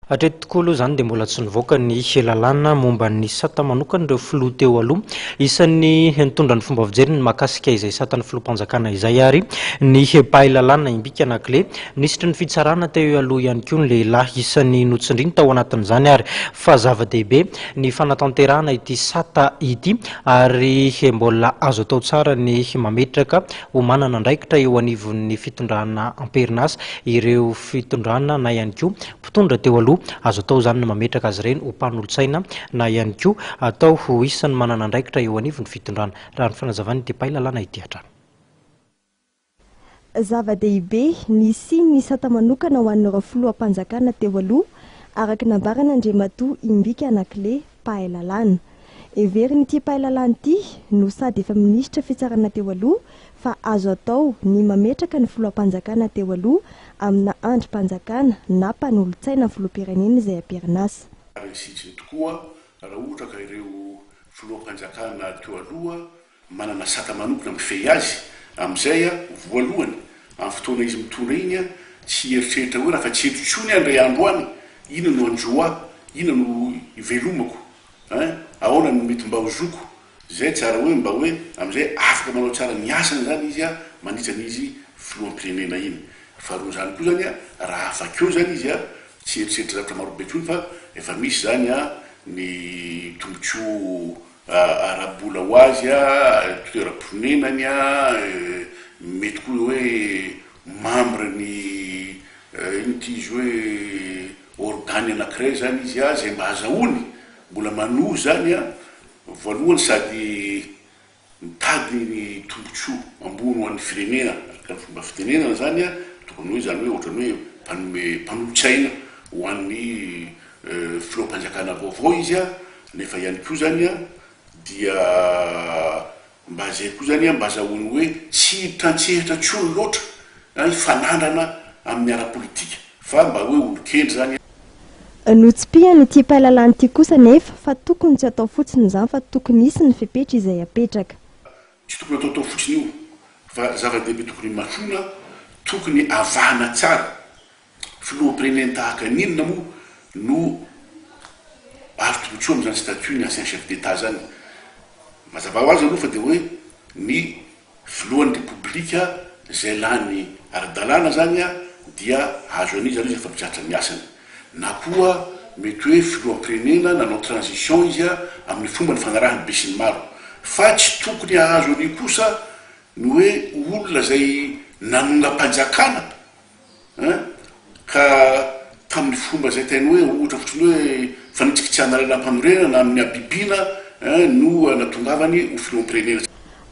Hatreto tokoa aloha izany dia mbola tsy nivoaka ny lalàna momba ny sata manokana ireo filoha teo aloha. Isan'ny nitondra ny fomba fijeriny ny mahakasika izay satan'ny filoham-panjakana izay ary ny mpahay lalàna Imbika Nakle. Minisitry ny fitsarana teo aloha ihany koa ny lehilahy isan'ny notsindriny tao anatin'izany ary fa zava-dehibe ny fanatanterahana ity sata ity ary mbola azo atao tsara ny mametraka ho manana andraikitra eo anivon'ny fitondrana amperinasa ireo fitondrana na ihany koa mpitondra teo aloha. Azo atao izany ny mametraka azy ireny ho mpanolotsaina na ihany koa atao ho isan'ny manana andraikitra eo anivon'ny fitondrana, raha ny fanazavan'i Depay Lalàna ity hatrany. Zava-dehibe, nisiany ny sata manokana ho an'ireo filoham-panjakana teo aloha, araka ny nambaran'Andriamatoa Imbika Anakle. mpahay lalàna. Heverin'ity mpahay lalàna ity, no sady efa minisitra fitsarana teo aloha, fa azo atao ny mametraka ny filoham-panjakana teo aloha amina andrim-panjakana na mpanolotsaina filoham-pirenena izay am-perinasa. Ary ny sitiny tokoa, raha ohatra ka ireo filoham-panjakana teo aloha manana sata manokona mifehy azy, amin'izay aho, voalohany, amin'ny fotoana izy mitondra iny, tsy hieritreritra hoe rafa tsy eto intsony aho indray andro any, inona no hanjo ahy, inona no hivelomako, eh, ahoana no mety mba ho zoko, izay tsara hoe mba hoe amin'izay afaka manao tsara ny asany izany izy mandritra ny izy filoham-pirenena iny. Faharoa an'izany koa izany, raha avakeo izany izy, tsy hieritreritra zavatra marobe intsony fa efa misy izany ny tombotsoa ara-bola ho azy, toeram-ponenany, mety koa hoe membre ny inona ity izy hoe organe anankiray izany izy izay mba azahoany, mbola manohy izany voalohany sady mitady ny tombotsoa ambony ho an'ny firenena araka ny fomba fitenenana izany tokony hoe izany hoe ohatran'ny hoe mpanome mpanolotsaina ho an'ny Filoham-panjakana vaovao izy a, nefa ihany koa zany a dia mba zay koa zany a mba azahoany hoe tsy hiditra an-tsehatra tsony loatra na hifanandrina amin'ny ara-politika fa mba hoe olon-kendry zany a. Notsipihany ity mpahalalana ity kosa anefa fa tokony tsy atao fotsiny izany fa tokony hisy ny fepetra izay apetraka. Tsy tokony ataotao fotsiny io fa zava-dehibe tokony hamasoina, tokony avahana tsara Filoham-pirenena tahaka ny inona moa no azo tombontsoa amin'izany statut ny ancien chef d'Etat zany? Mazava ho azy aloha fa dia hoe ny filohan'ny repoblika izay lany ara-dalàna zany dia azo an'iza an'iza fa mizatra ny asany. Na koa mety hoe filoham-pirenena nanao transition izy amin'ny fomba nifanarahan'ny besinimaro. Fa tsy tokony hahazo an'io kosa ny hoe olona izay nanongam-panjakana Hein? Ka tamin'ny fomba izay tainao hoe ohatra fotsiny hoe fanitsy kitsihana lalam-panorenana amin'ny habibiana hein no natongavany ho filoham-pirenena.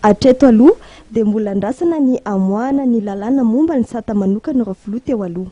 Hatreto aloha dia mbola andrasana ny hamoahana ny lalàna momba ny sata manokan'ireo filoha teo aloha.